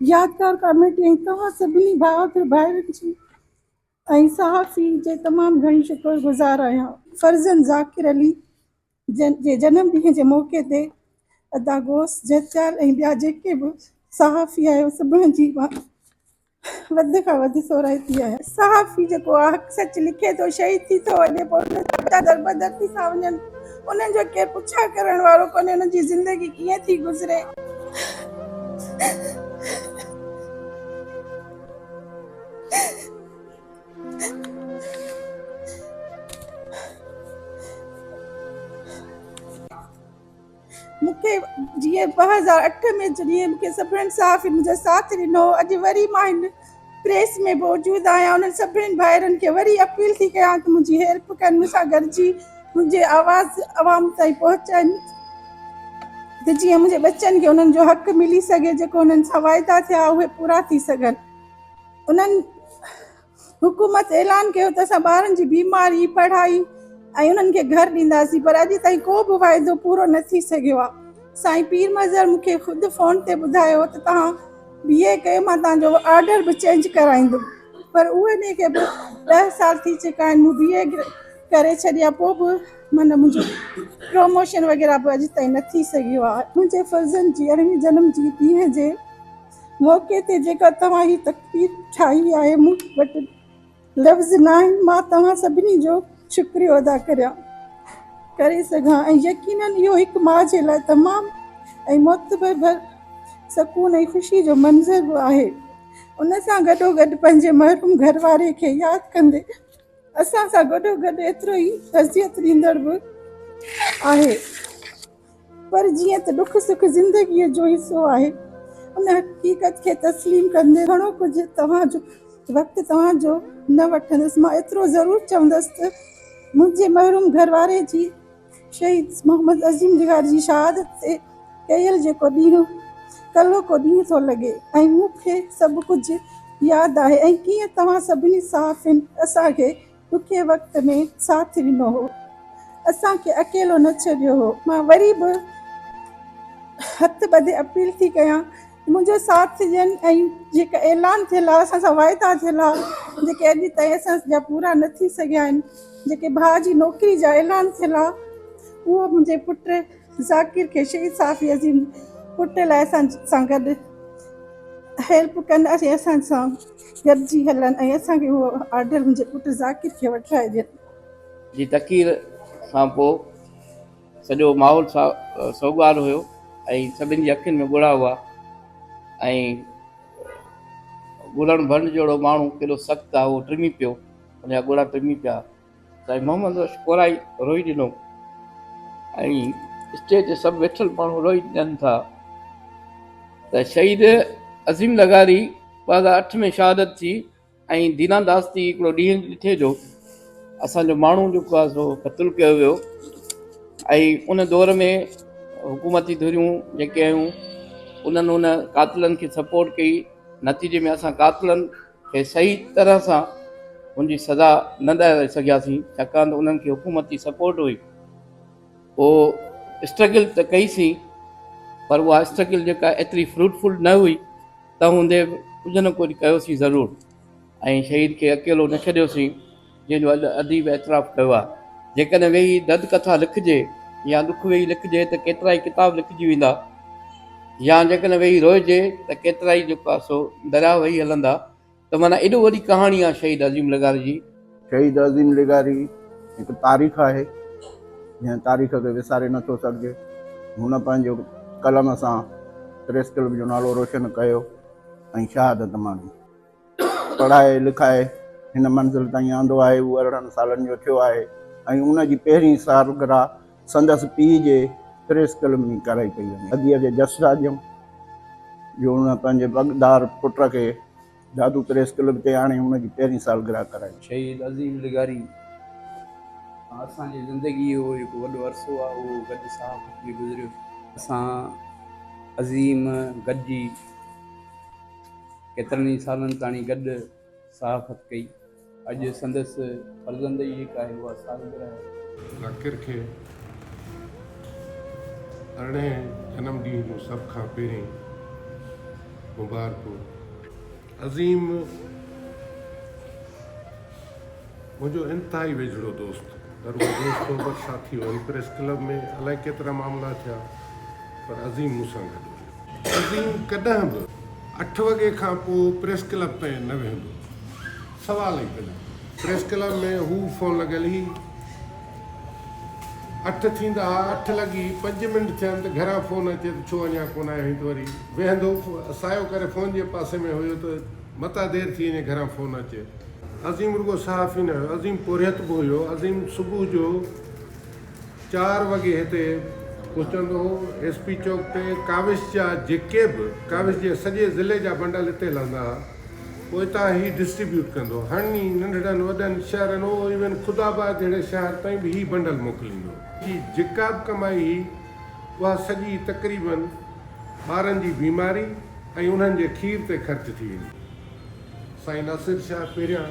يادگار ڪاميٽي ۽ توهان سڀني بهادر ڀائرن جي ۽ صحافي جي تمام گهڻي شڪر گذار آهيان. فرزند ذاڪر علي جي جنم ڏينهن جي موقعي تي ادا غوث جهتيال ۽ ٻيا جيڪي به صحافي آهيو سڀني جي مان وڌ کان وڌ ٿورائتي آهي. صحافي جيڪو آ حق سچ لکي ٿو شهيد ٿي ٿو وڃي پوء ان جا ٻچا دربدر ٿي ٿا وڃن انهن جو ڪير پڇا ڪرڻ وارو ڪونهي انهن جي زندگي ڪيئن ٿي گذري. مون کي جيئن ٻه هزار اٺ ۾ جڏهن مون کي سڀني صحافين منهنجو ساٿ ڏنو هو اڄ وري مان هن پريس ۾ موجود آهيان انهن سڀني ڀائرن کي وري اپيل ٿي ڪيان ته منهنجي هيلپ ڪن مون سان گڏجي منهنجي آواز عوام تائين پهچائين ته جيئن منهنجي ٻچن کي انهن جو حق ملي سگهي جيڪو انهن سان واعدا ٿيا اهي پورا ٿي سگهن انهن حڪومت اعلان ڪيو ته اسان ٻارن جي بيماري پڙهائي ۽ انهن کي گهر ڏينداسين پر اڄ تائين ڪو به واعدو پورو نه ٿي سگهيو آهي سائين پير مظهر مون کي خود فون تي ٻڌايو ته توهان بي اي ڪيو مان توهان جو آرڊر به چينج ڪرائيندم پر اهي کي به ڏهه سال ٿي چڪا آهن مون بي اي ڪري ڇڏي آهي پوء به معنيٰ منهنجو پروموشن وغيره به اڄ تائين نه ٿي سگهيو آهي. منهنجي فرزند جي ارڙهين جنم جي ڏينهن جي موقعي تي جيڪا توهان هي تقرير ٺاهي آهي مون وٽ لفظ ناهن مان توهان سڀني جو شڪريو ادا ڪريان ڪري سگهان ۽ يقيناً اهو هڪ ماء جي لاء تمام ۽ معتبر ڀر سڪون ۽ خوشي جو منظر به آهي ان سان گڏو گڏ پنهنجي محروم گهر واري کي ياد ڪندي اسان سان گڏو گڏ ايترو ئي تعزيت ڏيندڙ به آهي. پر جيئن ته ڏک سک زندگيء جو حصو آهي، ان حقيقت کي تسليم ڪندي گهڻو ڪجهه توهان جو وقت توهان جو نه وٺندس. مان ايترو ضرور چوندس ته منهنجي محروم گهر واري جي شهيد محمد عظيم ڊگهار جي شهادت تي ڪيل جيڪو ڏينهن ڪلهو ڪو ڏينهن ٿو لڳي ۽ مون کي سڀ ڪجهه ياد آهي ۽ ڪيئن توهان سڀني صحافين اسان کي ڏکي وقت ۾ ساٿ ڏنو هو اسان کي اڪيلو نه ڇڏيو هو مان وري به هٿ ٻڌي اپيل ٿي ڪيان منهنجو ساٿ ڏين ۽ جيڪا اعلان ٿيل آهي اسان سان واعدا ٿيل آهي جيڪي اڄ تائين اسان جا پورا نه ٿي سگهيا آهن جيڪي ڀاء جي نوڪري جا اعلان ٿيل آهي اهو منهنجي پٽ ذاڪر کي شهيد صافي عظيم پٽ لاء اسان سان گڏ هيلپ ڪن اسان سان گڏجي هلن ۽ اسان کي اهو آرڊر منهنجي پٽ ذاڪر کي وٺرائي ڏين. جي تقرير کان پوء سڄو ماحول سوڳوار هيو ۽ سڀني جي اکين ۾ ڳوڙها هئا ۽ ڳوڙهن ڀنڊ جهڙو ماڻهو ڪيڏو سخت آهي اهو ٽمي پيو ان جا ڳوڙها ٽمي پيا. سائين محمد بخش ڪورائي روئي ڏنو ۽ اسٽيج تي سڀ ويٺل ماڻهو روئي ڏنن ٿا ته شهيد عظيم لغاري ٻه هزار اٺ ۾ شهادت ٿي ۽ دينا داس ٿي هڪڙو ڏينهن ڏٺي جو اسان جو ماڻهو جيڪو آهي سو قتل ڪيو ويو ۽ ان دور ۾ حڪومتي ڌريون جيڪي آيون انهن ان قاتلن کي سپورٽ ڪئي نتيجي ۾ اسان قاتلن کي صحيح طرح سان ان جي سزا نه ڏياري سگهياسين ڇاڪاڻ ته انهن کي حڪومت جي سپورٽ هئي پوء اسٽرگل ته ڪئي سين پر اها اسٽرگل جيڪا ايتري فروٽفل نه هئي تنهن هوندي به ڪجهه نه ڪجهه ڪيوسين ضرور ۽ شهيد کي اڪيلو نه ڇڏيوسين جنهن جو اڄ اديب اعتراف ڪيو آهي. جيڪڏهن ويهي دد ڪٿا لکجي يا ڏک ويهي لکجي ته ڪيترائي ڪتاب لکجي ويندا يا جيڪڏهن ويهي روئجي ته ڪيترائي جو ڪاسو درياهه وهي هلندا ته معنيٰ ايڏو وڏي ڪهاڻي آهي شهيد عظيم لغاري جي. شهيد عظيم لغاري هڪ تاريخ آهي، جنهن تاريخ کي وساري نٿو سگهجي. هن پنهنجي قلم سان پريس ڪلب جو نالو روشن ڪيو ۽ شهادت ماڻي. پڙهائي لکائي هن منزل تائين آندو آهي هو ارڙهن سالن جو ٿيو آهي ۽ ان جي پهرين سالگرهه سندس پيء جي پريس ڪلب ۾ ڪرائي پئي وڃي. اديء کي جس جاڳيم جو ان پنهنجي پڳدار پٽ کي دادو پريس ڪلب تي آڻي ان جي پهرين سالگرهه ڪرائي. شهيد عظيم لغاري سان اسان جي زندگيء جو جيڪو وڏو عرصو آهي اهو گڏ صحافت ۾ گذريو. اسان عظيم گڏجي. ڪيترن ئي سالن تاڻي گڏ صحافت ڪئي. اڄ سندس فرزند ئي هڪ آهي اها سالگرهه. ذاڪر کي ارڙهين جنم ڏينهن جون سڀ کان پهرين مبارڪون. عظيم منهنجو انتهائي ويجهڙو دوست درويش دوست صحبت ساٿي هئم پريس ڪلب ۾ الائي ڪيترا معاملا ٿيا پر عظيم مون سان گڏ هو. عظيم ڪڏهن به اٺ وڳي کان پوء پريس ڪلب تائين نه ويهندو. سوال ئي ڪونهي. پريس ڪلب ۾ هو فون لڳل هئي. اٺ ٿيندا ها، اٺ لڳي پنج منٽ ٿين ته گهران فون اچي ته ڇو اڃا ڪونه آيو آهين ته وري ويهندو سايو ڪري فون جي پاسي ۾ هيو ته متان دير ٿي وڃي گهران فون اچي. عظيم رڳو صحافي نه هيو، عظيم پورهيت به هيو. عظيم صبح جو. چار وڳي هتي پهچندو هو. ايس پي چوڪ تي ڪاوش جا جيڪي به ڪاوش جي سڄي ضلعي جا بنڊل هتي لهندا ها، پوء هتان هي ڊسٽريبيوٽ ڪندو. هني ننڍڙن وڏن شهرن او ايون خدا آباد جهڙي شهر تائين به هي بنڊل موڪليندو. جي جيڪا به ڪمائي هئي، اها سڄي تقريباً ٻارن جي بيماري ۽ انهن جي کير تي خرچ ٿي ويندي هئي. سائين ناصر شاهه پهريان.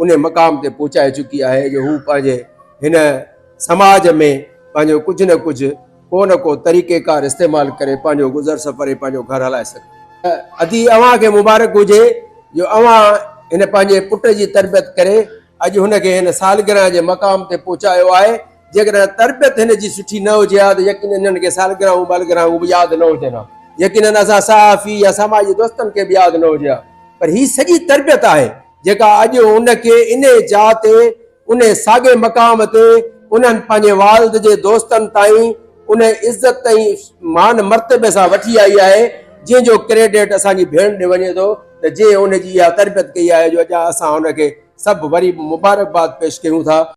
انهي مقام تي پهچائي چڪي آهي جو هو پنهنجي هن سماج ۾ پنهنجو ڪجهه نه ڪجهه ڪو نه ڪو طريقيڪار استعمال ڪري پنهنجو گذر سفر ۽ پنهنجو گهر هلائي سگهي ٿو. ادي اوهان کي مبارڪ هجي جو اوهان هن پنهنجي پٽ جي تربيت ڪري اڄ هن کي هن سالگرهه جي مقام تي پهچايو آهي جيڪڏهن تربيت هن جي سٺي نه هجي ها ته يقينن انهن کي سالگرهون ٻالگرهون به ياد نه هجن ها يقينن اسان صحافي يا سماجي دوستن کي به ياد نه هجي ها پر هي سڄي تربيت آهي. جيڪا اڄ ان کي انهي جاء تي، انهي ساڳئي مقام تي، انهن پنهنجي والد جي دوستن تائين انهي عزت ۽ مان مرتبي سان وٺي آئي آهي، جنهن جو ڪريڊٽ اسان جي ڀيڻ ڏي وڃي ٿو ته جنهن ان جي اها تربيت ڪئي آهي جو اڄ اسان ان کي سڀ وري به مبارڪباد پيش ڪيون ٿا.